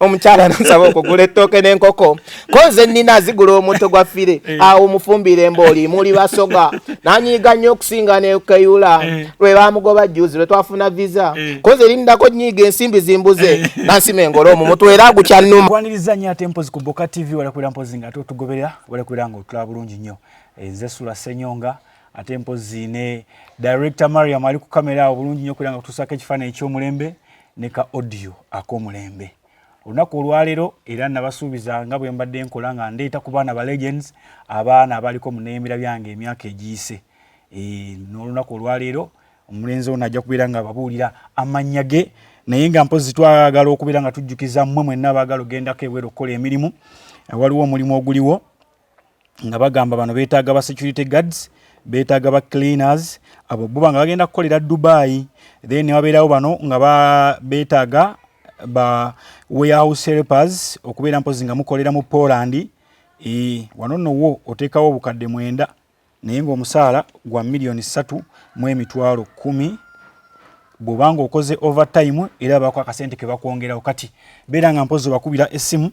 omukyala nsaba okugula ettooke n'enkoko ko nze nnina zigula omutto gwa fire eh. awo mufumbire mbooli muli basoga nanyiiga nnyo okusinga nekeyula eh. lwe bamugoba juzi lwe twafuna visa eh. ko nze lindako nyiiga ensimbi zimbuze nansima engole omu mutu era agukyannuma kwaniriza nnyo ate mpozi ku boka tv walakwera mpozi nga ate otugoberera walakwera nga otulaba bulungi nnyo nze sula senyonga ate mpozi ne director mariam ali ku kamera awo bulungi nnyo kwera nga tutusaako ekifaananyi ekyomulembe ne ka audio ak'omulembe olunaku olwaleero era nabasuubiza nga bwe mbadde nkola nga ndeeta ku baana ba legends abaana abaliko mu neyemera byange emyaka egiyise eh, n'olunaku olwaleero omulenzi ono ajja kubeera nga ababuulira amannya ge naye nga mpozi twagala okubeera nga tujjukiza mmwe mwenna abaagala ogendako ebweru okukola emirimu waliwo omulimu oguliwo nga bagamba bano beetaaga ba security guards beetaaga ba cleaners abo buba nga bagenda kukolera dubai then newabeerawo bano nga beetaaga ba warehouse helpers okubeera mpozi nga mukolera mu poland e, wano nowo oteekawo obukadde mwenda naye ng'omusaala gwa miliyoni ssatu mu emitwalo kkumi bw'oba ng'okoze overtime era baako akasente ke bakwongerawo kati beera nga mpozi obakubira essimu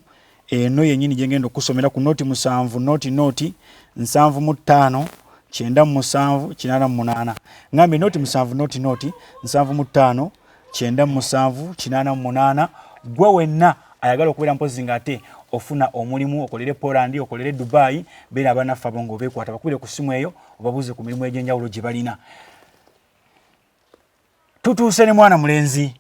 eno yennyini gye ngenda okukusomera ku nooti musanvu nooti nooti nsanvu mu ttaano kyenda mu musanvu kinaana mu munaana ngambye nooti musanvu nooti nooti nsanvu mu ttaano kyenda mu musanvu kinaana mu munaana gwe wenna ayagala okubeera mpozi nga ate ofuna omulimu okolere poland okolere dubai beera abanaffe abo nga obekwata bakubire ku simu eyo obabuuze ku mirimu egyenjawulo gye balina tutuuse ne mwana mulenzi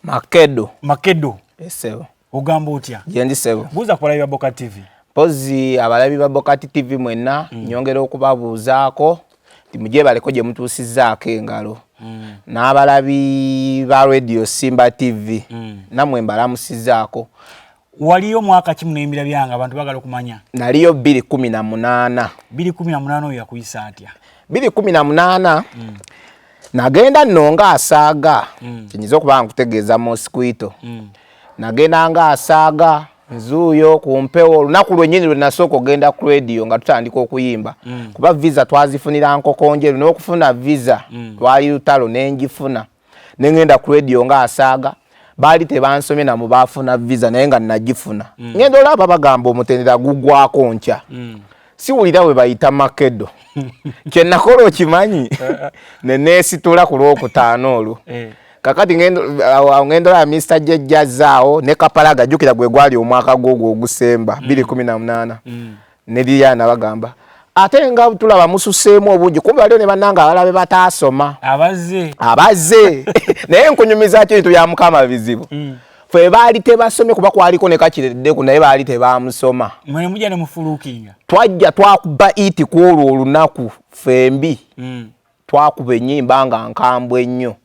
makedo makedo esebo ogamba otya gyendi sebo buuza ku balabi ba boka tv mpozi abalabi ba boka tv mwenna mm. nyongera okubabuuzaako mugyebaleko gye mutuusizzaako engalo mm. n'abalabi ba radio simba tv mm. namwe mbalamusizaako waliyo mwaka kimu nembira byange abantu bagala okumanya naliyo biri kumi na munaana biri kumi na munaana oyo yakuyisa atya biri kumi na munaana mm. nagenda nno nga asaaga mm. kinyinza okuba nga nkutegeeza mosquito mm. nagenda nga asaaga nzuuyo ku mpewo olunaku lwennyini lwe nasooka okugenda ku rediyo nga tutandika okuyimba mm. kuba visa twazifunira nkokonjeru n'okufuna visa mm. lwali lutalo ne ngifuna ne ngenda ku rediyo nga asaaga baali tebansomye namu baafuna visa naye nga nagifuna mm. ngenda olaba bagamba omutendera gugwako nkya mm. siwulira we bayita makedo kyenakola okimanyi eh, eh. neneesitula ku lwokutaano olwo eh. kakati ngenda olaba mista jejjazaawo ne kapalaga jjukira gwe gwali omwaka gwogwo ogusemba mm. biri kumi na munaana ne Diana bagamba ate nga tulaba mususeemu obungi kumbe waliwo ne bannanga abala be bataasoma abaze abaze naye nkunyumiza ki bintu bya mukama bizibu mm. fe baali tebasomye kuba kwaliko ne kakireddeku naye baali tebaamusoma mwe mujja ne mufuluukinga twajja twakuba iti ku olwo olunaku fembi mm. Twakuba ennyimba nga nkambwe nnyo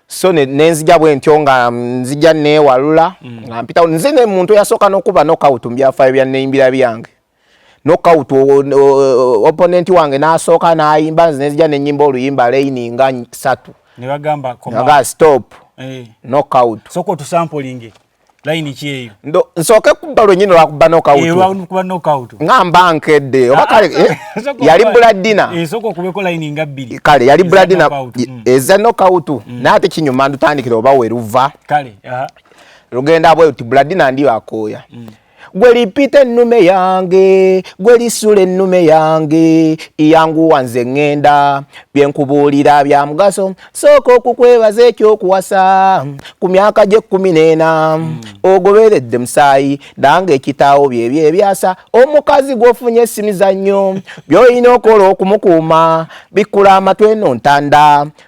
so nenzija bwentyo nga nzija neewalula mm. nga mpitawo nze ne muntu eyasooka n'okuba nokawutu mu byafaayo bya neyimbira byange nokawutu oponenti wange n'asooka n'ayimba nze nenzija nenyimba oluyimba layini nga satu nebagamba stop eh. nokawutu sooka otusampulinge layini ki eyo nsooke kubba lwenyini lwakuba nokawutukuba eh, nokawutu ngamba nkedde oba ah, kale ah, eh, yali buladina esooka eh, okubeko layini nga bbiri kale yali buladina mm. eza nokawutu mm. naye ate kinyuma ndutandikira oba weruva kale lugenda bwe uti buladina ndiyo akooya mm. gwe lipita ennume yange gwe lisula ennume yange iyanguwa nze ŋŋenda bye nkubuulira bya mugaso sooka okukwebaza ekyokuwasa ku myaka gy'ekkumi n'ena hmm. ogoberedde musaayi nange ekitaawo byebyo ebyasa omukazi gw'ofunye esimizannyo by'olina okola okumukuuma bikkula amatwe eno ntanda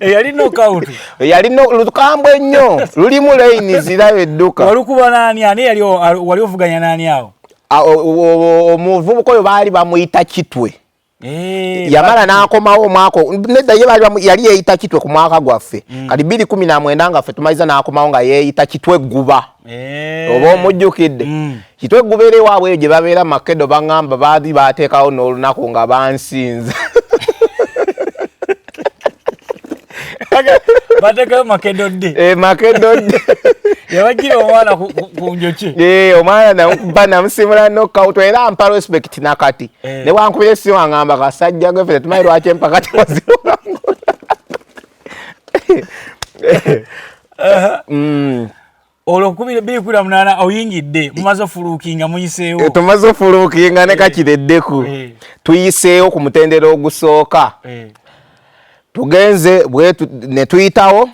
eyali nokawutu eyali lukambwe ennyo lulimu layini zirayo edduka walukuba naani ani yali wali ovuganya naani awo omuvubuka oyo baali bamuyita kitwe Eh, yamala n'akomawo omwaka nedda ye yali yeeyita kitwe ku mwaka gwaffe mm. kati bbiri kumi na mwenda ngaffe tumaliza n'akomawo nga yeeyita kitwe gguba eh. oba omujjukidde mm. kitwe gubeera ewaabwe eyo gye babeera makedo baŋamba baadi baateekawo n'olunaku nga bansinza batekayo makedo dde eh, makedo dde yabajira omwana ku njoki eh, omwana namukuba namusimula nokawuto era ampa respect nakati eh. newankubira esimu aŋamba kasajja gwefe tetumanyi lwaki empaka tewaziwangula olwo nkubira ebbiri kubira munaana oyingidde mumaze ofuluukinga muyiseewo eh, tumaze ofuluukinga ne eh. kakireddeku eh. tuyiseewo ku mutendera ogusooka tugenze ne tuyitawo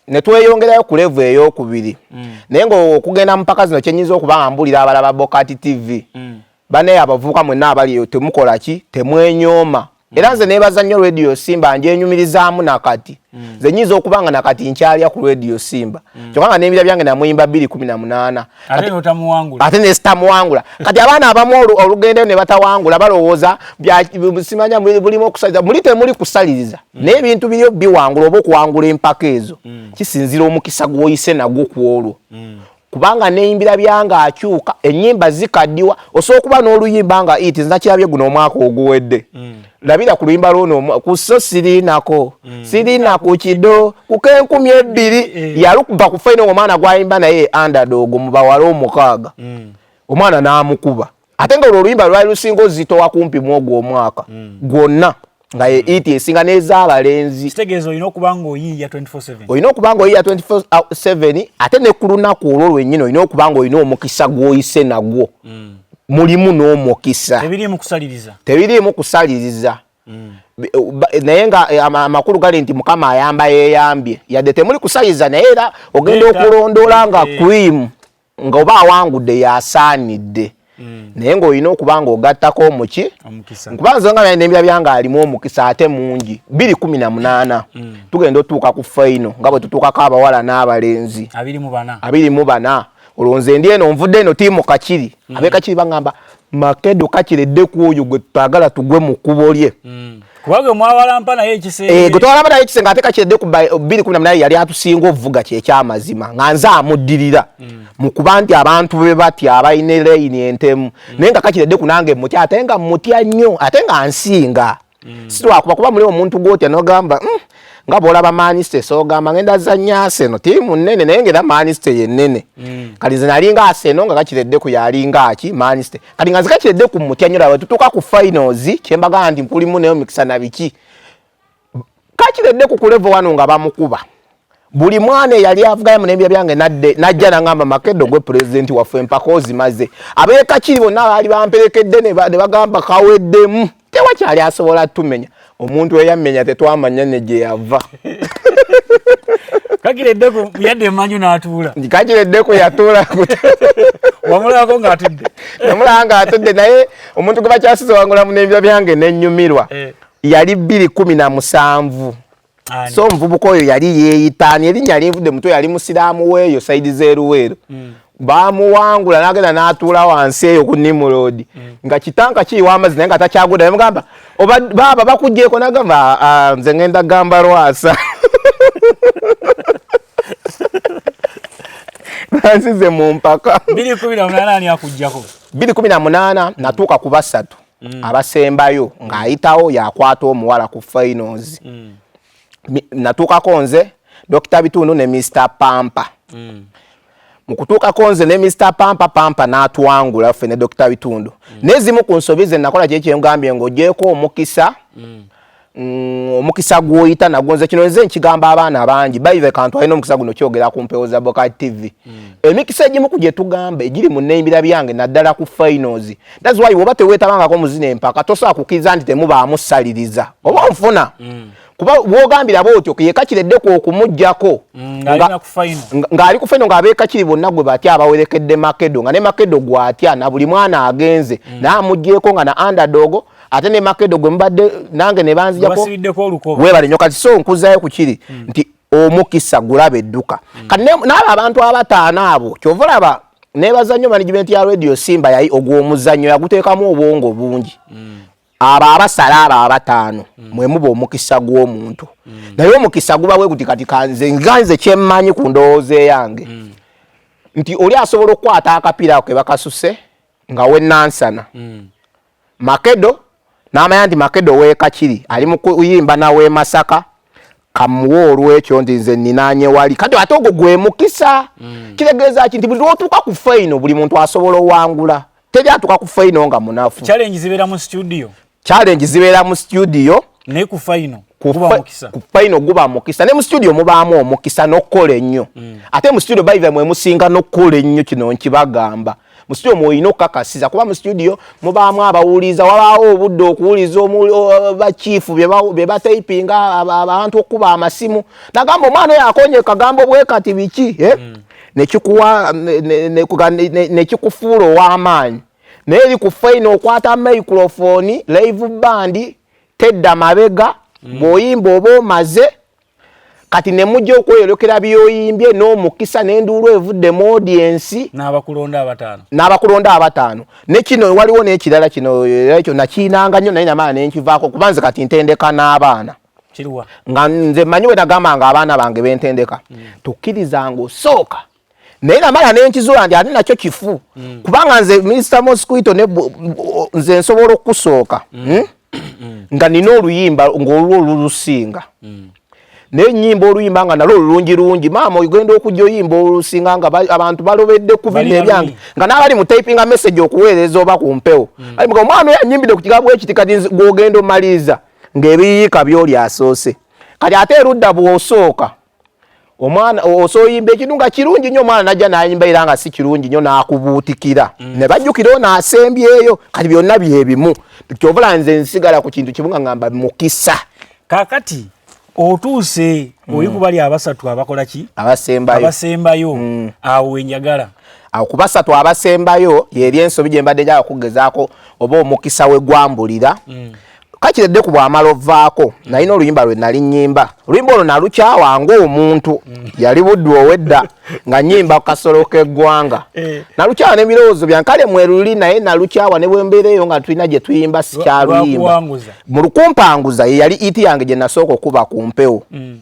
ne tweyongerayo ku levu ey'okubiri mm. naye ngaokugenda mu mpaka zino kyenyinza okuba nga mbulira abalaba bokati tv mm. Bane abavubuka mwenna abali eyo temukola ki temwenyooma mm. era nze nebaza nnyo radio simba njenyumirizaamu nakati mm. nze nyinza okuba nga nakati nkyalya ku radio simba mm. kyokka nga n'ebira byange namuyimba bbiri kumi na munaana ate nesitamuwangula kati abaana abamu olugendeyo ne batawangula balowooza simanya bulimu okusaliriza muli temuli kusaliriza mm. naye ebintu biriyo biwangula oba okuwangula empaka ezo mm. kisinzira omukisa gwoyise nagwo ku olwo mm. kubanga neyimbira byanga akyuka enyimba zikadiwa osobola okuba n'oluyimba nga it nakirabye guno omwaka oguwedde mm. labira ku luyimba lwono kuso sirinako mm. sirina ku kido kuko enkumi ebbiri mm. yalukuba ku faino omwana gwayimba naye andadogo mubawala omukaaga mm. omwana n'amukuba ate nga olwo oluyimba lwali lusinga ozitowa kumpi mu ogwo omwaka mm. gwonna nga ye iti mm. esinga n'ez'abalenzi kitegeeza olina okuba ng'oyiiya 24/7 olina okuba ng'oyiiya 24/7 ate ne ku lunaku olwo lwennyini olina okuba ng'olina omukisa gw'oyise nagwo mm. mulimu n'omukisa tebiriimu kusaliriza tebiriimu kusaliriza mm. naye nga eh, amakulu gali nti mukama ayamba yeyambye yadde temuli kusaliza naye era ogenda okulondoola nga cream nga oba awangudde yasaanidde mm. naye ng'olina okuba ng'ogattako omuki nkuba nze nga nembira byange alimu omukisa ate mungi biri kumi na munaana mm. tugenda otuuka ku faino nga bwe tutuukako abawala n'abalenzi abiri mu bana olwo nze ndi eno nvudde eno tiimu kakiri mm. abekakiri baŋamba makedo kakiredde ku oyo gwe tutagala tugwe mu kubo lye mm. kubanga mwawalampa naye ekisenge eh, gwe twawalampa naye ekisenge ate kakiredde ku 218 naye yali atusinga ovuga kye kyamazima nga nze amuddirira mm. mu kuba nti abantu be bati abalina layini entemu mm. naye nga kakiredde ku nange mutya ate nga mutya nnyo ate nga nsinga mm. silwakuba kuba muli omuntu gwotya nogamba mm, nga bwolaba maniste sogamba ngenda zanya aseno tiimu nene naye ngaera maniste yenene mm. kati nze nalinga aseno nga gakiredde ku yalinga aki maniste kati nga zikakiredde ku mutya nyo laba tutuka ku finals kyembagamba nti nkulimu naye omikisa na biki kakiredde ku kulevo wano nga bamukuba buli mwana eyali avuganya mu nembya byange nadde najja nangamba makedo gwe pulezidenti waffe empaka ozimaze abeekakiri bonna baali bamperekedde ne bagamba kaweddemu tewakyali asobola tumenya omuntu eyammenya tetwamanya ne gye yava kakireddeko yadde emanju n'atuula kakireddeko yatuula wamulabako ng'atudde namulaba ng'atudde naye omuntu gwe bakyasize wangula mu nembya byange nenyumirwa eh. yali bbiri kumi na musanvu so omuvubuka oyo yali yeeyitaani erinnya linvudde mutwe yali musiraamu weeyo saidi zeeruweero mm. bamuwangula nagenda natuula wansi eyo ku nimurodi mm. nga kitanka kiyiwa amazzi naye nga takyaguda nemugamba baaba bakugyeko nagamba ah, nze ngenda gamba lwasa bansize mu mpaka biri kumi na munaana natuuka ku basatu mm. abasembayo mm. ng'ayitawo yakwata omuwala ku finals mm. natuukako nze dokita bitundu ne mr pampa mm. mu kutuukako nze ne mr pampa pampa n'atwangula ffe ne dokita bitundu mm. n'ezimu ku nsobi ze nakola kyekyengambye ng'ogyeko omukisa mm. Mm, omukisa gwoyita nagwo nze kino nze nkigamba abaana abangi baive kantu alina omukisa guno kyogera ku mpewo za boka tv mm. emikisa egimu ku gyetugamba egiri mu neimbira byange naddala ku finals thats why woba tewetabangako muzina empaka tosobola kukiriza nti temubaamu saliriza oba onfuna mm. kuba wogambira bwotyo yekakireddeko okumugjako mm, ng'ali ku faino ng'abekakiri bonna gwe batya abawerekedde makedo nga ne makedo gwatya na buli mwana agenze mm. naamugyeko nga na andadogo ate ne makedo gwe mubadde nange ne banzijako webale nyo kati so nkuzayo ku kiri mm. nti omukisa gulaba edduka mm. kati n'abo abantu abataano abo kyova olaba nebaza nnyo management ya radio simba yayi ogw'omuzannyo yaguteekamu obwongo bungi mm. abo abasala abo abataano mm. mwe muba omukisa gw'omuntu mm. naye omukisa guba bwe guti kati kanze nga nze kyemmanyi ku ndowooza eyange mm. nti oli asobola okukwata akapiira ako ke bakasuse nga wenansana mm. Makedo n'amanya nti Makedo w'e Kakiri ali mu kuyimba na w'e Masaka kamuwe olwekyo nti nze ninaanye wali kati ate ogwo gwe mukisa mm. kitegeeza ki nti buli lwotuuka ku faino buli muntu asobola owangula teri atuuka ku faino nga munafu challenge zibeera mu studio challenge zibeera mu studio naye ku faino ku faino guba mukisa ne mu studio mubaamu omukisa n'okukola ennyo mm. ate mu studio baithe mwe musinga n'okukola ennyo kino nkibagamba mu studio mwoyina okukakasiza kuba mu studio mubaamu abawuliza wabaawo obudde okuwuliza bakiifu be batayipinga abantu okukuba amasimu nagamba omwana oyo akonye kagambo bwe kati biki eh? hmm. nekikufuula ow'amaanyi naye eri ku faina okwata microfoni live bandi tedda mabega hmm. bw'oyimba oba omaze kati ne mujja okweyolekera byoyimbye n'omukisa n'enduulu evudde mu odiensi n'abakulonda abataano n'abakulonda abataano ne kino waliwo n'ekirala kino era ekyo nakiinanga nnyo naye namaana ne nkivaako kuba nze kati ntendeka n'abaana nga nze manyi bwe nagamba nga abaana bange bentendeka mm. tukkirizanga osooka naye namala nenkizuula nti ate nakyo kifu mm. kubanga nze minisita mosquito nze nsobola okukusooka mm. hmm? mm. nga nina oluyimba ngaolwo olulusinga mm. naye nyimba oluyimba nga nalwo olulungi lungi maama ogenda okujja oyimba olusinga nga abantu balobedde ku bino ebyange nga n'abali mu typinga message okuweereza oba ku mpewo mm. ali muga omwana oyo anyimbidde ku kigambo ekiti kati gwogenda omaliriza ng'ebiyiika byoli asoose kati ate erudda bw'osooka omwana osoyimba ekintu nga kirungi nnyo omwana najja nayimba era nga si kirungi nnyo nakubuutikira mm. ne bajjukira ono asembyeyo kati byonna byebimu kyovula nze nsigala ku kintu kimu nga ngamba mukisa kakati otuuse mm. oli kubali abasatu abakola ki abasembayo mm. awo enjagala awo ku basatu abasembayo yeri ensobi gye mbadde njaga kugezaako oba omukisa we gwambulira kakira edde ku bwamala ovaako mm. nalina oluyimba lwe nali nyimba oluyimba olwo nalukyawa ngaomuntu mm. yali buddu owedda nga nyimba ku kasolo k'eggwanga eh. nalukyawa n'ebirowoozo byange kale mweruli naye nalukyawa ne bwembeera eyo nga tulina gye tuyimba sikyaluyimba mu lukumpanguza ye yali iti yange gye nasooka okuba ku mpewo mm.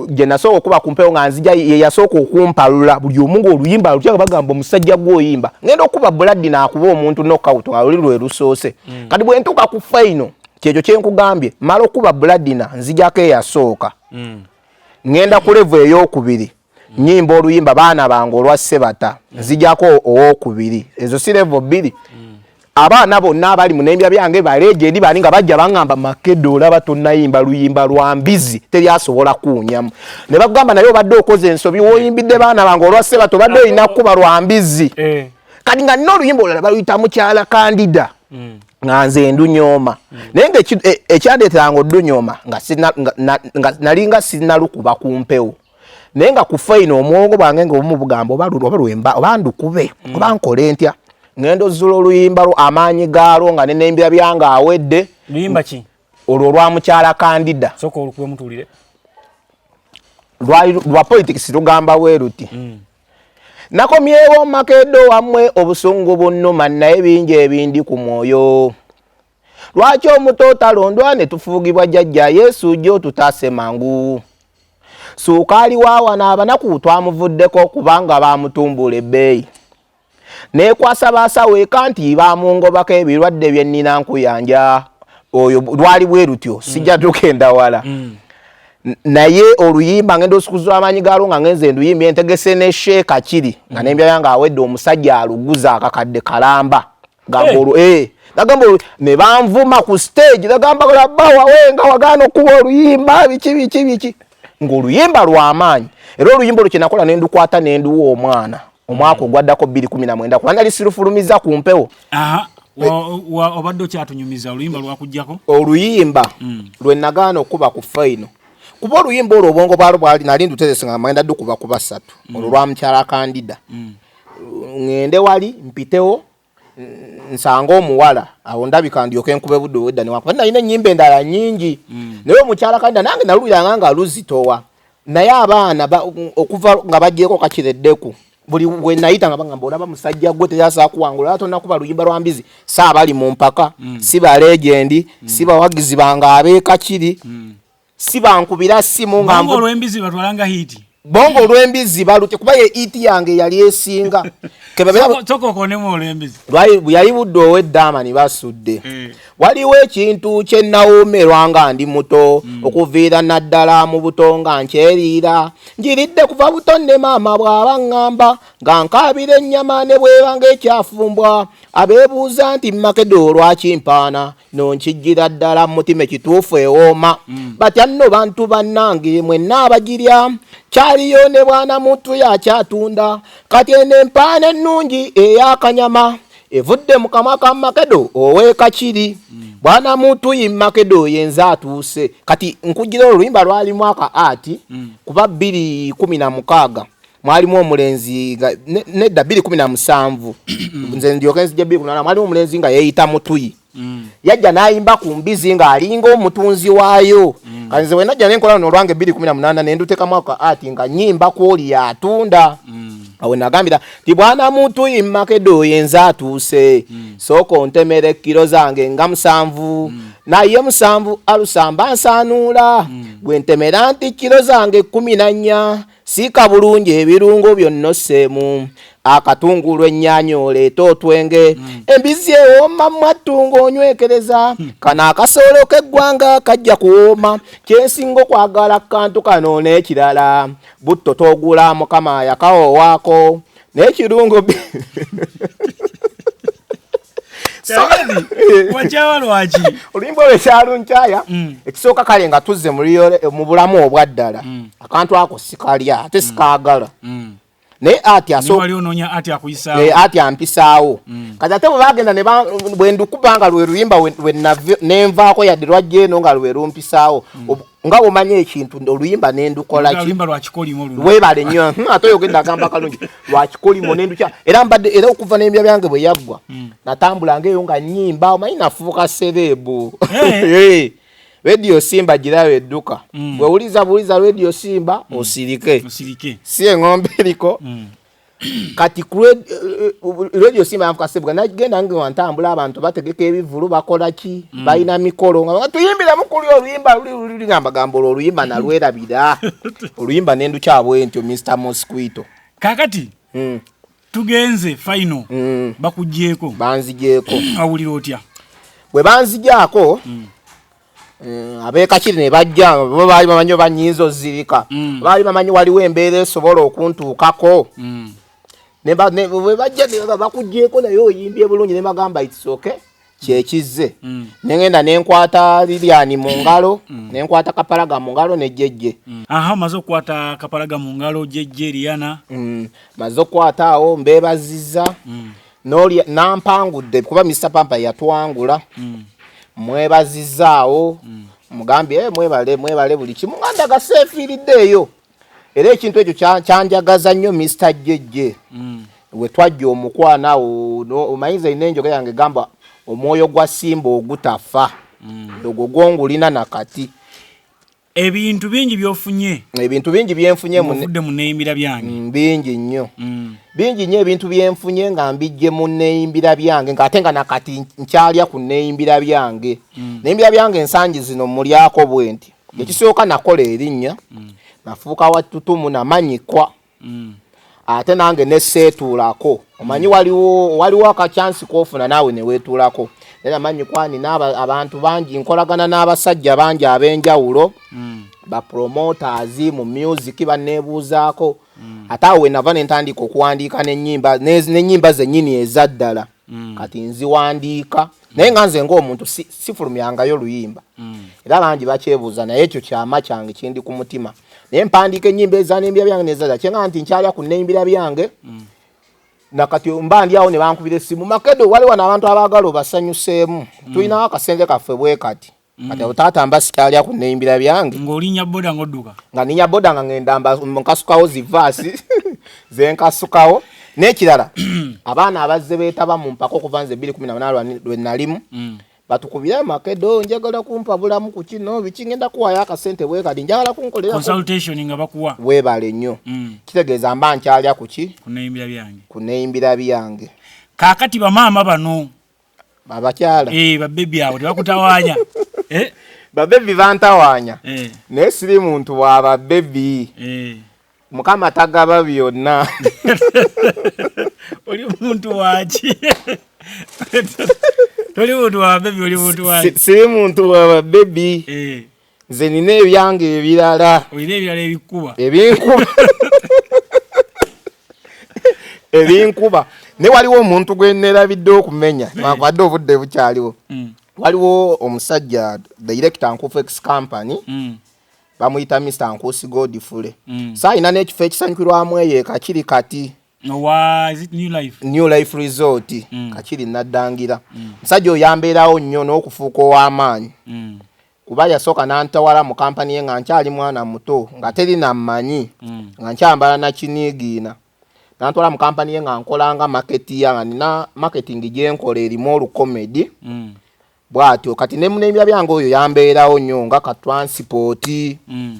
gye nasooka okuba ku mpewo nga nzija ye yasooka okumpalula buli omu ng'oluyimba lutya nga bagamba omusajja gwoyimba ngenda okuba buladi naakuba omuntu nokawuto nga luli lwe lusoose mm. kati bwe ntuuka ku faino kyekyo kye nkugambye mala okuba buladina nzijako eyasooka mm. ngenda ku levu ey'okubiri mm. nyimba oluyimba baana bange olwa sebata nzijako ow'okubiri ezo si levu bbiri abaana bonna abali munembya byange baleeje ndi bani nga bajja bangamba makedo olaba tonayimba luyimba lwa mbizi teri asobola kuunyamu ne bagamba naye obadde okoze ensobi woyimbidde baana bange olwa seba tobadde olina kukuba lwa mbizi eh. kati nga nina oluyimba olala baluyita mukyala kandida mm. nga nze ndunyooma mm. naye nga e, ekyandeeteranga odunyooma nga nalinga sinalukuba ku mpewo naye nga ku faino omwongo bwange nga obumu bugamba oba lulwo oba lwemba oba ndukube mm. oba nkole ntya ngenda ozula oluyimba lwo amaanyi gaalwo nga nenembira byange awedde luyimba ki olwo olwa mukyala kandida soka olukube mutuulire lwali lwa politics lugamba weruti mm. nakomyewo makedo wamwe obusungu bunuma naye bingi ebindi ku mwoyo lwaki omuto talondwa ne tufuugibwa jajja yesu jo tutaase mangu suukaali waawa n'abanaku twamuvuddeko kubanga baamutumbula ebbeeyi neekwasa baasawo eka nti baamungobako ebirwadde bye nnina nkuyanja oyo lwali bwe lutyo sijja tugenda wala mm. naye oluyimba ngenda osukuzula amaanyi gaalwo nga ngenze nduyimba entegese ne sheeka kiri nga mm. nembya yange awedde omusajja aluguza akakadde kalamba gamba eh. olwo eh nagamba ne banvuma ku stage nagamba labba wawe nga wagaana okuba oluyimba biki biki biki ng'oluyimba lw'amaanyi era oluyimba olwo kyenakola ne ndukwata ne nduwa omwana omwaka ogwaddako bbiri kumi na mwenda kuba nali sirufulumiza ku mpewo obadde okyatunyumiza oluyimba lwakugjako oluyimba mm. lwe nagaana okukuba ku faino kuba oluyimba olwo obwongo bwalo bwali nali ndutezesa nga magenda dukuba kuba ssatu mm. olwo lwa mukyala kandida mm. ŋŋende wali mpitewo nsanga omuwala awo ndabika ndyoke nkube budde obwedda newakuba nalina ennyimba endala nnyingi mm. naye omukyala kanda nange naluliranga nga luzitowa naye abaana okuva nga bagyeko kakireddeku buli wenayita nga bagamba olaba musajja gwe teyasa kuwangula ate onakuba luyimba lwa mbizi si abali mu mpaka mm. si balegendi mm. si bawagizi bange abeekakiri mm. sibankubira simu nga mbu olwembizi batwalanga hiti bongo olwembizi balute kuba ye hiti yange yali esinga yali budde oweddaamani basudde eh. waliwo ekintu kye nawoomerwa nga ndi muto hmm. okuviira naddala mu buto nga nkyeriira njiridde kuva buto ne maama bw'aba ŋŋamba nga nkaabira ennyama ne bweba ng'ekyafumbwa abeebuuza nti makedo olwakimpaana no nkijjira ddala mu mutima ekituufu ewooma mm. batya nno bantu bannange mwenna abagirya kyaliyo ne bwana muntu yakyatunda kati eno empaana ennungi eyakanyama evudde mu kamwa ka makedo ow'ekakiri mm. bwana muntu yi makedo yenze atuuse kati nkujjira oluyimba lwalimu aka ati mm. kuba bbiri kumi na mukaaga mwalimu omulenzi nga nedda bbiri kumi na musanvu nze ndyoka enzija bbiri kumi nana mwalimu omulenzi nga yeeyita mutuyi mm. yajja n'ayimba ku mbizi ng'alinga omutunzi waayo mm. kati nze wenajja nenkola luno olwange bbiri kumi na munaana ne ndutekamu ako ati nga nyimba kwoli yatunda mm. awe nagambira ti bwana mutuyi mmakedo oyo enze atuuse sooka ontemera ekkiro zange nga musanvu naye musanvu alusamba nsaanuula gwe ntemera nti kiro zange kkumi na nnya Siika bulungi ebirungo byonna osseemu akatungulu ennyaanya oleete otwenge mm. embizzi ewooma mwattu ng'onywekereza mm. kano akasoolo k'eggwanga kajja kuwooma kyensinga okwagala kantu kano n'ekirala butto togula mukama yakawowaako naye kirungo wajawa lwaki oluyimba olwo ekyalunkyaya mm. ekisooka kale nga tuzze mu bulamu obwaddala mm. akantu ako sikalya ate mm. sikaagala naye ati eh, ati ampisaawo kati ate bwe bagenda bwe ndukubanga lwe luyimba nenvaako yadde lwajja eno nga lwe lumpisaawo nga omanyi ekintu oluyimba nendukolawebale nyo hmm, ate oyogenda agamba kalungi lwakikolimo nendukya era mbadde era okuva nembya byange bwe yaggwa hmm. natambulanga eyo nga nyimba omanyi nafuuka sereebu eh. radio simba girawo edduka hmm. bwewuliza buliza radio simba osirike si eng'ombe eriko kati eh, eh, radio simba yanfuka sebuga nagenda nge wantambula abantu bategeka ebivulu bakola ki mm. balina mikolo nga tuyimbira mukuli oluyimba luli luli nga mbagambo oluyimba nalwerabira oluyimba nendukyabwe ntyo Mr Mosquito kakati mm. tugenze final mm. bakujeko banzijeko awulira otya bwe banzijako mm. Eh, abekakiri ne bajja bo baali bamanyi oba nyinza ozirika mm. baali bamanyi waliwo embeera esobola okuntuukako mm. bajja bakugyeko naye oyimbye bulungi nebagamba itsoke kyekizze mm. nengenda nenkwata liliani mu ngalo nenkwata kapalaga mu ngalo nejejje aha maze okukwata kapalaga mu ngalo jejje liana maze okukwata awo mbebaziza nolya nampangudde kuba Mr Pampa yatwangula mm. mwebazizaawo mm. mugambye eh, mwebale mwebale buli kimu nga ndagase efiiriddeeyo era ekintu ekyo kyanjagaza nnyo Mr Jeje mm. we twajja omukwana awo no, omayinza ina enjoga yange gamba omwoyo gwa simba ogutafa mm. ogwo gwongulina nakati ebintu bingi byofunye ebintu bingi byenfunye muvudde mu neyimbira byange mm, bingi nnyo mm. bingi nnyo ebintu byenfunye nga mbijje mu neyimbira byange nga ate nga nakati nkyalya ku neyimbira byange mm. neyimbira byange ensangi zino mulyako bwenti ekisooka nakola erinnya nafuuka watutumu namanyikwa mm. ate nange neseetuulako omanyi mm. waliwo waliwo akakyansi kofuna naawe neweetuulako era manyi kwani abantu bangi nkolagana n'abasajja bangi ab'enjawulo mm. bapromoters mu music baneebuuzaako mm. ate awo wenava nentandika okuwandiika nenyimba zenyini ezaddala mm. kati nziwandiika naye nga nze ngaomuntu sifulumyangayo luyimba mm. era bangi bakyebuuza naye ekyo kyama kyange kindi ku mutima naye mpandiika enyimba ezanembira byange nezaza kyenga nti nkyalya ku nembira byange mm. nakati mba ndi awo nebankubira esimu makedo waliwo naabantu abaagala obasanyuseemu tulinawo akasente kaffe bwe kati Mm. kati taata mba sikyalya ku neyimbira byange ng'olinya boda ng'odduka nga ninya boda nga ngenda nkasukawo zivaasi zenkasukawo n'ekirala abaana abazze beetaba mu mpaka okuva nze ebbiri kumi na munaana lwe nalimu mm. batukubire amakedo njagala kumpa bulamu ku kino biki ngenda kuwayo akasente bwe kati njagala kunkolera nga bakuwa weebale nnyo mm. kitegeeza mba nkyalya kuki ku neyimbira byange kaakati bamaama bano abakyala eh, babebi abo tebakutawanya eh? babebi bantawanya eh. naye siri muntu wa babebi mukama tagaba byonna oli muntu waki toli muntu wa babebi oli muntu waki siri muntu wa babebi nze nina ebyange ebirala olina ebirala ebikuba ebinkuba ebinkuba ne waliwo omuntu gwe nerabidde okumenya eh. nwakwade obudde bukyaliwo mm. waliwo omusajja director nkufex company mm. bamuyita mr nkusi godfule mm. sa alina n'ekifo ekisanyukirwamu eyo ekakiri kati new life resort kakiri naddangira musajja oyambeerawo nnyo n'okufuuka ow'amaanyi kuba yasooka nantawala mu kampani ye nga nkyali mwana muto nga teri nammanyi mm. nga nkyambala nakiniigiina nantwala mu kampani ye nga nkolanga maketi ya nga nina maketingi gyenkola erimu olukomedi mm. bwatyo kati nemunemya byange oyo yambeerawo nnyo nga katransipooti mm.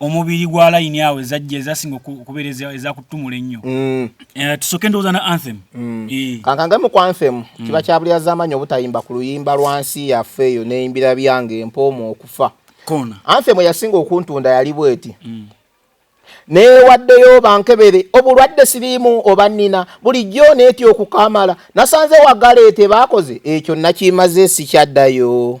omubiri gwa layini awo ezajja ezasinga okubeera ezakutumula ennyo mm. eh, tusooke endowooza na anthem mm. eh. kankangemu ku anthem mm. kiba kyabulyazamanyi obutayimba ku luyimba lwa nsi yaffe eyo neyimbira byange empooma okufa kona anthem eyasinga okuntunda yali bweti newaddeyo bankebere obulwadde siriimu oba nina bulijjo neetya okukamala nasanze wagaleete baakoze ekyo nakimaze sikyaddayo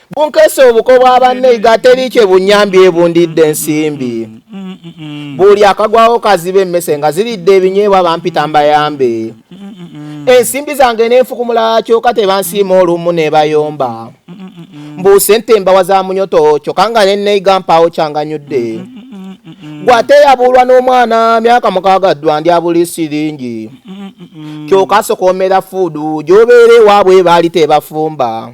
bunkese obuko bwa banne iga teri kye bunyambye ebundidde ensimbi buli akagwawo kaziba emmese nga ziridde ebinyeebwa bampita mbayambe ensimbi zange nenfukumula kyoka tebansiima olumu nebayomba mbu sente mbawa za munyoto kyoka nga neneiga mpaawo kyanganyudde gwateyabulwa n'omwana myaka mukaaga ddwa ndi abuli siringi kyoka sokomera fuudu gyobeera ewaabwe baali tebafumba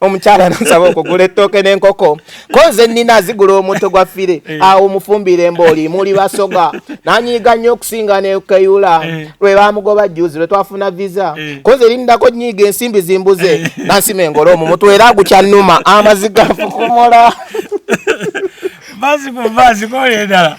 omukyala nsaba okugula ettooke n'enkoko ko nze nnina azigula omutto gwa fire eh. awo mufumbire mbooli muli basoga nanyiiga nnyo okusinga nekeyula eh. lwe bamugoba juzi lwe twafuna visa eh. ko nze lindako nyiiga ensimbi zimbuze nansima engolo omumutwe era agukyannuma amaziga nfukumola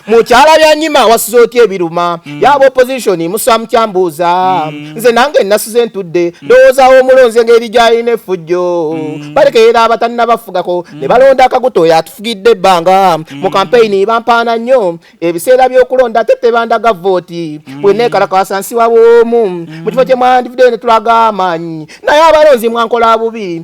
mukyala byanyima wasuza otya ebiruma mm. yaba opposition musa mukyambuuza mm. nze nange nasuze ntudde mm. ndowoozawo omulonze ngeri gyalina efujjo balekeyera abatalina bafugako ne balonda akaguto oyo atufugidde ebbanga mu kampeyini bampaana nnyo ebiseera by'okulonda ate tebandaga vooti bweneekalakasa nsi wabwomu mu kifo kye mwandivudde ne tulaga amaanyi naye abalonzi mwankola bubi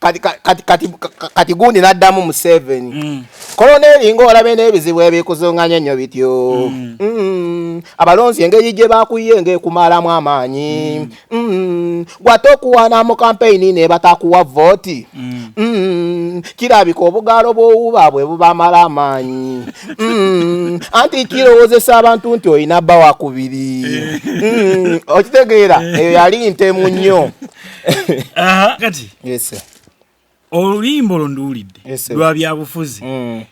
kati kati kati kati gundi naddamu museveni mm. koloneli ngaolaba n'ebizibu ebikuzunganya nnyo bityo mm. mm. abalonzi engeri gye bakuye ngaekumalamu amaanyi gwate okuwana mu kampeyini ne batakuwa vooti kirabika obugaalo bwowuba bwe bubamala amaanyi anti kirowozesa abantu nti olina bba wakubiri eh. okitegeera eyo yali ntemu nnyo Aha, kati yes sir oluyimba olwo nduwulidde Yes, sir. lwa byabufuzi mm.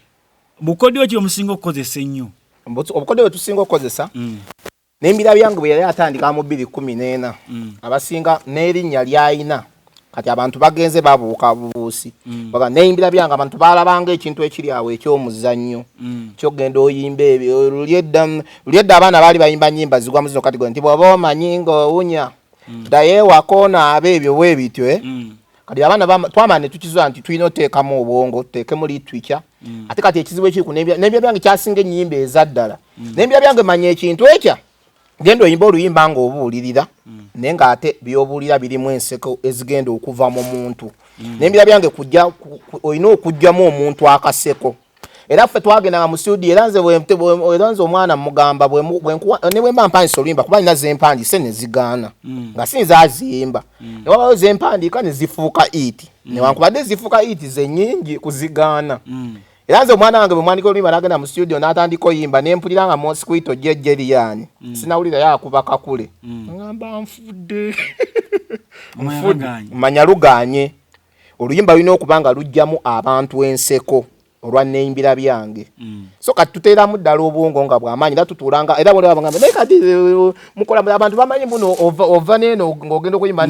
bukodyo ki omusinga okukozesa ennyo Mbutu- obukodyo bwe tusinga okukozesa Mm. nembira byange bwe yali atandika mu bbiri kumi n'ena Mm. abasinga n'erinnya lyalina kati abantu bagenze babuuka bubuusi Mm. baga neyimbira byange abantu balabanga ekintu ekiri awo ekyomuzannyo Mm. kyogenda oyimba ebyo lulyedda lulyedda abaana baali bayimba nyimba zigwa muzino kati gwe nti bwoba omanyi ng'owunya mm. daye wakona abe ebyo we bityo eh mm. kati abana ba twama ne tukizo anti tuino teka mu obongo teke muli twicha mm. ate kati ekiziwe kiri ku nebya nebya byange kyasinge nyimbe ezaddala mm. nebya byange manye ekintu ekya gendo yimbo luyimba ngo obulirira mm. nenga ate byobulira biri mu enseko ezigendo okuva mu muntu mm. nebya byange kujja oino okujja mu omuntu akaseko era ffe twagendanga mu studio era nze era nze omwana mugamba ne bwe mba mpandisa oluyimba kuba nina zempandise ne zigaana mm. nga si nzaziyimba mm. ne wabawo zempandiika ne zifuuka iti mm. newankubadde zifuuka iti zenyingi kuzigaana era nze omwana wange bwe mwandika oluyimba nagenda mu studio n'atandika oyimba ne mpulira nga mosquito gye jeriyani sinawulira yakuba kakule ngamba nfudde manya luganye oluyimba lulina okuba nga lujjamu abantu enseko olwa neyimbira byange mm. so kati tuteeramu ddala obwongo nga bwamaanyi era tutuulanga era bwlabagamba naye kati eh, mukola abantu bamanyi muno ova neeno ng'ogenda okuyimba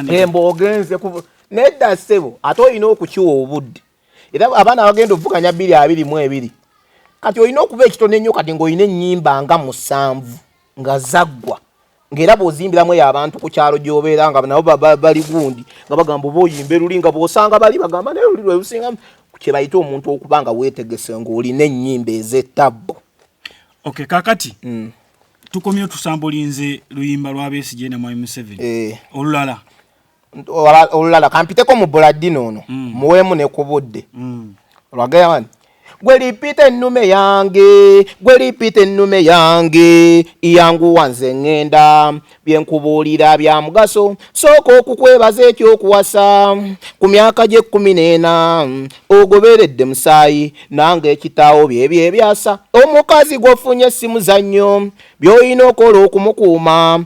nembogenze eh, nedda ssebo ate olina okukiwa obudde era abaana abagenda okuvuganya bbiri abiri mu ebiri kati olina okuba ekitono ennyo kati ng'olina ennyimba nga musanvu nga zaggwa ng'era bw'ozimbiramu eyo abantu ku kyalo gy'obeera nga nabo bali gundi nga bagamba oba oyimba eruli nga bw'osanga bali bagamba naye luli lwelusinga kye bayita omuntu okuba nga weetegese ng'olina ennyimba ez'ettabbu ok kakati mm. tukomye otusambulinze luyimba lwa besigye ne mwami museveni eh. olulala olulala kampiteko mu buladini ono mm. muweemu ne ku budde mm. olwagamba nti gwe lipiita ennume yange gwe lipiita ennume yange iyanguwa nze ŋŋenda bye nkubuulira bya mugaso sooka okukwebaza ekyokuwasa ku myaka gy'ekkumi n'ena ogoberedde musaayi nange ekitaawo bye bye byasa omukazi gw'ofunye si muzannyo by'olina okola okumukuuma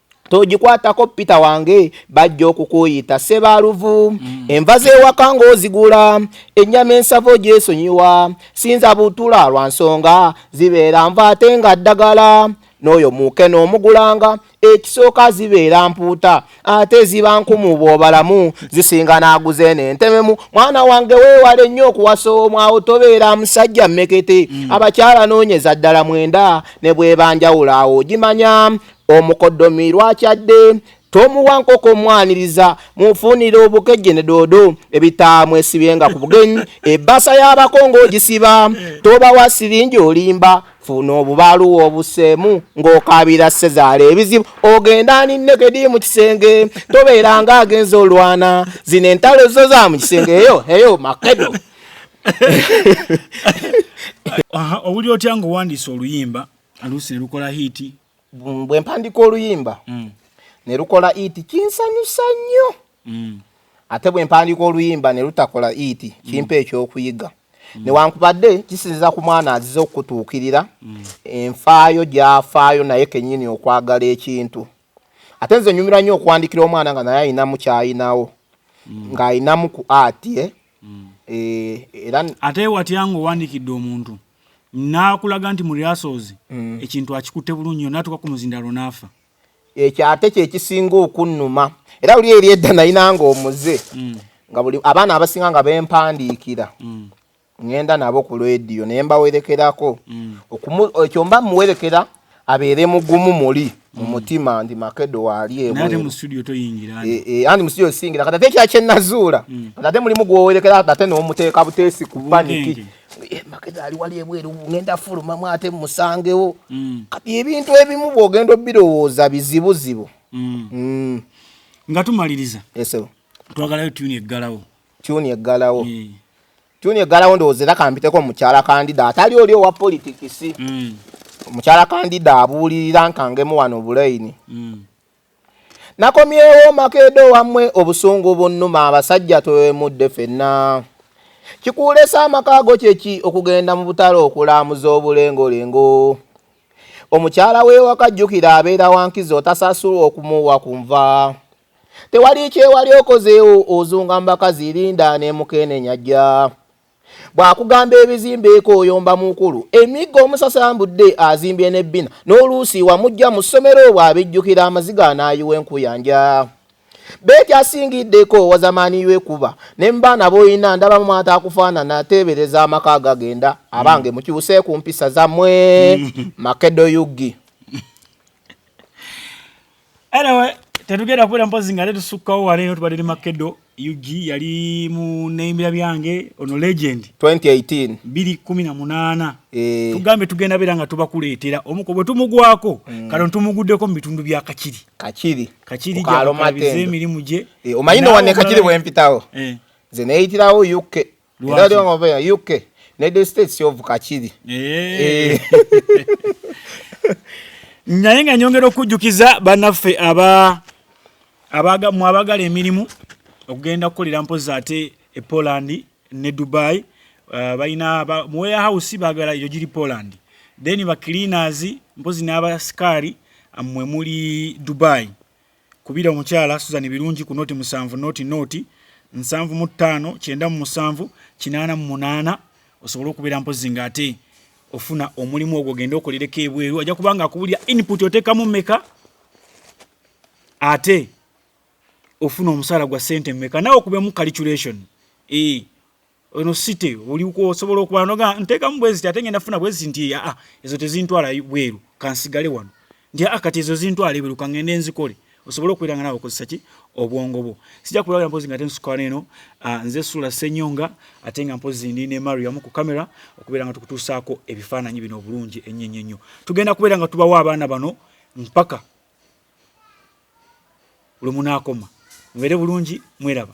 togikwatako pita wange bajja okukuyita sebaluvu mm. enva zewaka ngaozigula ennyama ensavo gyesonyiwa sinza butula lwa nsonga zibeera nva ate nga ddagala n'oyo muuke n'omugulanga ekisooka zibeera mpuuta ate ziba nkumu bw'obalamu zisinga n'aguze n'entememu mwana wange weewale nnyo okuwasa omwawo tobeera musajja mmekete mm. abakyala noonyeza ddala mwenda ne bwebanjawula awo ogimanya omukodomi lwakyadde tomuwa nkoko mwaniriza mufunire obukeje ne dodo ebitaamwesibyenga ku bugenyi ebbasa y'abakongo ogisiba tobawa siringi olimba funa obubaluwa obuseemu ng'okaabira sezaala ebizibu ogenda ninnekedi mu kisenge tobeera nga agenza olwana zino entalo zo za mu kisenge eyo eyo makedo owuli otya ng'owandiisa oluyimba aluusi ne lukola hiiti bwe mpandika oluyimba mm. ne lukola hiiti kinsanyusa nnyo mm. ate bwe mpandika oluyimba ne lutakola hiiti mm. kimpa ekyokuyiga newankubadde kisinziza ku mwana azize okutuukirira enfaayo gyafaayo naye kenyini okwagala ekintu ate nze nyumira nnyo okwandikira omwana nga naye ayinamu kyayinawo ng'ayinamu ku ati e eh? mm. eh, era ate watya nga owandikidde omuntu nakulaga nti muriasozi mm. ekintu akikutte bulungi natuka ku muzindalo naafa ekyo ate kyekisinga okunnuma era oli eri edda nayinanga omuze mm. nga buli abaana abasinga nga bempandiikira mm. ngenda nabo ku lwediyo naye mbawerekerako mm. ekyo mba muwerekera mm. abeere mugumu muli mu mutima ndi makedo waali ewe nate mu studio to yingira ani eh, eh ani mu studio singira kata tekya kye nazuula mm. kata te muli mugo werekera kata no muteka butesi ku panic eh, makedo ali wali ewe ngenda fulu mama ate musangewo mm. kati ebintu ebimu bogendo birowoza bizibu zibu mm. mm. ngatumaliriza esebo twagalayo tune eggalawo tune eggalawo mm. Junior Galawo ndowooza era kampiteko mukyala kandida atali oli owa politikisi mm. mukyala kandida abuulirira nkangemu wano obuleyini mm. nakomyewo makedo wamwe obusungu bunnuma abasajja twewemudde fenna kikuulesa amakaago kyeki okugenda mu butalo okulamuza obulengolengo omukyala wewakajjukira abeera wankizi otasasulwa okumuwa kunva tewali kyewali okozeewo ozunga mu bakazi linda nemukenenya jja bwakugamba ebizimbeeko oyomba mukulu emiggo omusasambudde azimbye ne bbina n'oluusi wamujja mu ssomero obwo abijjukira amaziga anaayiwa enkuyanja beekyasingiddeko wazamaaniyo ekuba ne mubaana boyina ndaba mumwata akufaanana ateebereza amaka agagenda abange mm. mukyuse ku mpisa zammwe makedo yugi anyway tetugenda kubeera mpozi nga tetusukkawo wala eno tubadde ne makedo ug yali mu neyimbira byange ono legend 2018 218 eh. tugambye tugenda beera nga tubakuleetera omuko bwe tumugwako mm. kano tumuguddeko mu bitundu bya kakiri kakiri kakiri gyakabiriza emirimu gye eh, omanyi nowanne kakiri bwempitawo eh. nze neyitirawo uk Lwaki? Ndio ngombe ya UK. United States of Kachiri. Eh. eh. Naye nga nyongera okujjukiza banaffe aba abaga mu abagala emirimu okugenda kukolera mpozi ate e Poland ne Dubai uh, balina ba, mu warehouse bagala eyo giri Poland then ba cleaners mpozi n'abasikari mwe muli Dubai Kubira omukyala Suzan Birungi ku nooti musanvu nooti nooti nsanvu mu ttaano kyenda mu musanvu kinaana mu munaana osobole okubeera mpozi nga ate ofuna omulimu ogwo ogende okolereko ebweru ajja kuba nga akubulira input oteekamu meka ate ofuna omusaala gwa sente meka nawe okubemu calculation ee eh. eno site eyo oli osobola okuba noga ntekamu bwezi tate ngenda funa bwezi nti ya ah ezo tezintwala bweru kansigale wano nti ya ah, kati ezo zintwala bweru kangende enzikole osobola okwiranga nawe okozesa ki obwongo bwo sija kulabira mpozi nga tensuka neno ah, nze sula senyonga atenga mpozi ndi ne mario amu ku camera okubera nga tukutusako ebifananyi bino obulungi enyenye nyo tugenda kubera nga tubawa abana bano mpaka lumunakoma mwere bulungi mweraba